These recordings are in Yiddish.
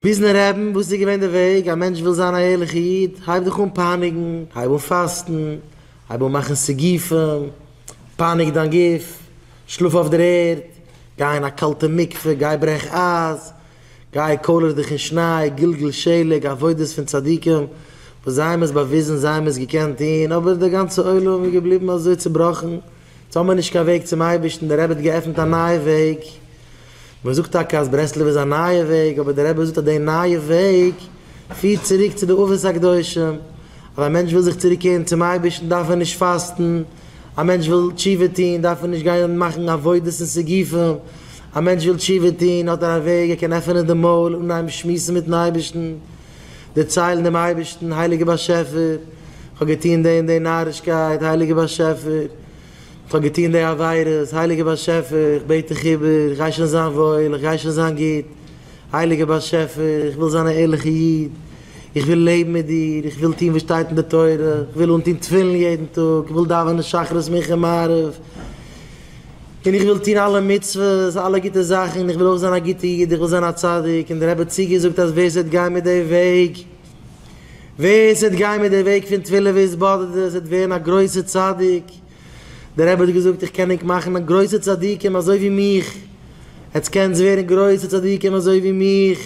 וויזנער רעבין, וואס איז געווען די וועג? א מענטש וויל זיין א ערליכע איד, הייב דיך אן פייניגן, הייב אן פאסטן, הייב אן מאכן סיגופים, פייניג דיין גוף, שלאף אויף דער ערד, גיי אין א קאלטע מקווה, גיי ברעך אייז, גיי קאלער דיך אין שניי, גלגל שלג, עבודות פון צדיקים, וואס זיי האבן עס באוויזן, זיי האבן עס געקענט טון, אבער דער גאנצער עולם איז געבליבן אזוי צובראכן, יעצט האבן מיר נישט קיין וועג צום אייבערשטן, דער רבי האט געעפנט א נייע וועג, מען זאגט טאקע אז ברסלב איז א נייע וועג, אבער דער רבי זאגט אז די נייע וועג פירט צוריק צו די אבות הקדושים, אז א מענטש וויל זיך צוריק קערן צום אייבערשטן דארף ער נישט פאסטן, א מענטש וויל תשובה טון דארף ער נישט גיין מאכן עבודות און סיגופים, א מענטש וויל תשובה טון האט ער א וועג, ער קען עפענען די מויל און אנהייבן שמועסן מיטן אייבערשטן, דערציילן דעם אייבערשטן, הייליגער באשעפער, כ'האב געטון די און די נארישקייט, הייליגער באשעפער, כ'האב געטון די עבירות, הייליגער באשעפער, איך בעט דיך איבער, איך גיי שוין זיין וואויל, איך גיי שוין זיין גוט, הייליגער באשעפער, איך וויל זיין א ערליכער איד, איך וויל לעבן מיט דיר, איך וויל טון וואס שטייט אין די תורה, איך וויל אנטון תפילין יעדן טאג, איך וויל דאווענען שחרית מנחה מעריב, און איך וויל טון אלע מצוות, אלע גוטע זאכן, און איך וויל אויך זיין א גוטע איד, איך וויל זיין א צדיק, און דער רבי האט צוגעזאגט אז ווער עס וועט גיין מיט די וועג, ווער עס וועט גיין מיט די וועג פון תפילה והתבודדות וועט ווערן א גרויסע צדיק, דער רבי האט געזאגט איך קען ענק מאכן גרויסע צדיקים אזוי ווי מיך, עטס קענטס ווערן גרויסע צדיקים אזוי ווי מיך,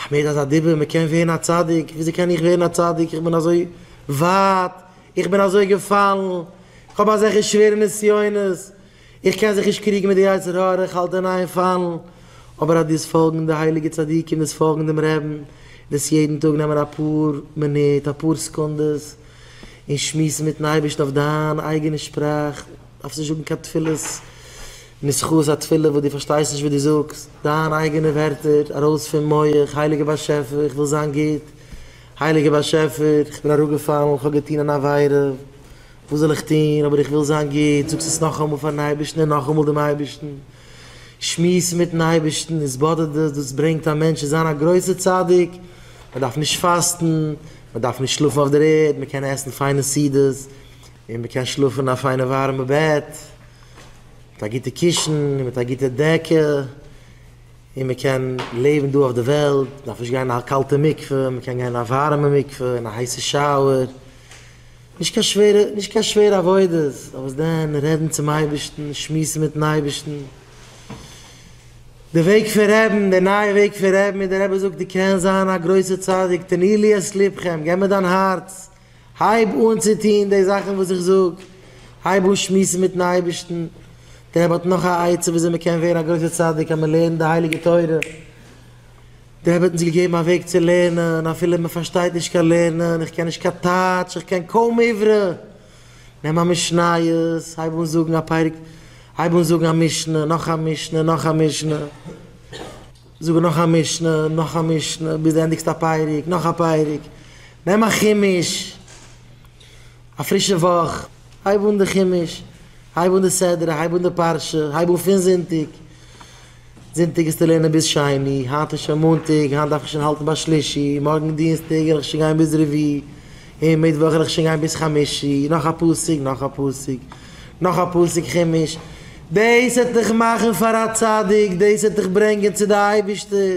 האמיר אזא דיבור מען קען ווערן א צדיק, וויאזוי קען איך ווערן א צדיק, איך בין אזוי ווייט, איך בין אזוי געפאלן, איך האב אזעלכע שווערע נסיונות, איך קען זיך נישט קריגן מיט די יצר הרע, איך האלט אין איין פאלן, אבער אז דאס פאלגן די הייליגע צדיקים, דאס פאלגן דעם רעבן, דאס יעדן טאג נעמען אפאר מינוט, אפאר סעקונדעס, און שמועסן מיטן אייבערשטן אויף דיין אייגענע שפראך, דארפסט נישט זאגן קיין תפילות נוסחאות א תפילה וואס דו פארשטייסט נישט וואס דו זאגסט, דיין אייגענע ווערטער ארויס פון מח, הייליגער באשעפער איך וויל זיין גוט, הייליגער באשעפער, איך בין אראפגעפאלן, איך האב געטון אן עבירה, וואס זאל איך טון, אבער איך וויל זיין גוט, זאג עס נאכאמאל פארן אייבערשטן און נאכאמאל דעם אייבערשטן, שמועס מיטן אייבערשטן, איז באדערט דאס, דאס ברענגט א מענטש צו זיין א גרויסער צדיק, מען דארף נישט פאסטן, מען דארף נישט שלאפן אויף דער ערד, מען קען עסן פיינע סעודות, און מען קען שלאפן אין א פיינע ווארעמע בעט, מיט א גוטע קישן און מיט א גוטע דעקע. און מען קען לעבן דא אויף די וועלט, מען דארף נישט גיין אין א קאלטע מקווה, מען קען גיין אין א ווארימע מקווה, אין א הייסע שאוער, נישט קיין שווערע, נישט קיין שווערע עבודות, אבער וואס דען, רעדן צום אייבערשטן, שמועסן מיטן אייבערשטן, די וועג פון רעבן, די נייע וועג פון רעבן, ווי דער רבי זאגט, דו קענסט זיין א גרויסע צדיק, תני לי את לבכם, געב מיר דיין הארץ. הייב אן צו טון די זאכן וואס איך זאג, הייב אן שמועסן מיט'ן אייבערשטן, דער רבי האט נאך א עצה ווי אזוי מען קען ווערן א גרויסער צדיק אז מען לערנט די הייליגע תורה, דער רבי האט אונז געגעבן א וועג צו לערנען אפילו מען פארשטייט נישט קיין לערנען, איך קען נישט קיין טייטש, איך קען קוים עברי, נעם א משניות, הייב אן זאגן א פרק, הייב אן זאגן א משנה, נאך א משנה, נאך א משנה. זאג נאך א משנה, נאך א משנה, ביז דו ענדיגסט א פרק, נאך א פרק, נעם א חימוש, א פרישע וואך, הייב אן די חימוש, הייב אן די סדרה, הייב אן די פרשה, הייב אן פון זונטאג, זונטאג האסטו לערנען ביז שני, היינט איז שוין מאנטאג, היינט דארף איך שוין האלטן ביי שלישי, מארגן דינסטאג וועל איך שוין גיין ביז רביעי, און מיטוואך וועל איך שוין גיין ביז חמישי, נאך א פסוק, נאך א פסוק. נאך א פסוק חומש, דאס וועט דיך מאכן פאר א צדיק, דאס וועט דיך ברענגען צו די אייבישטער.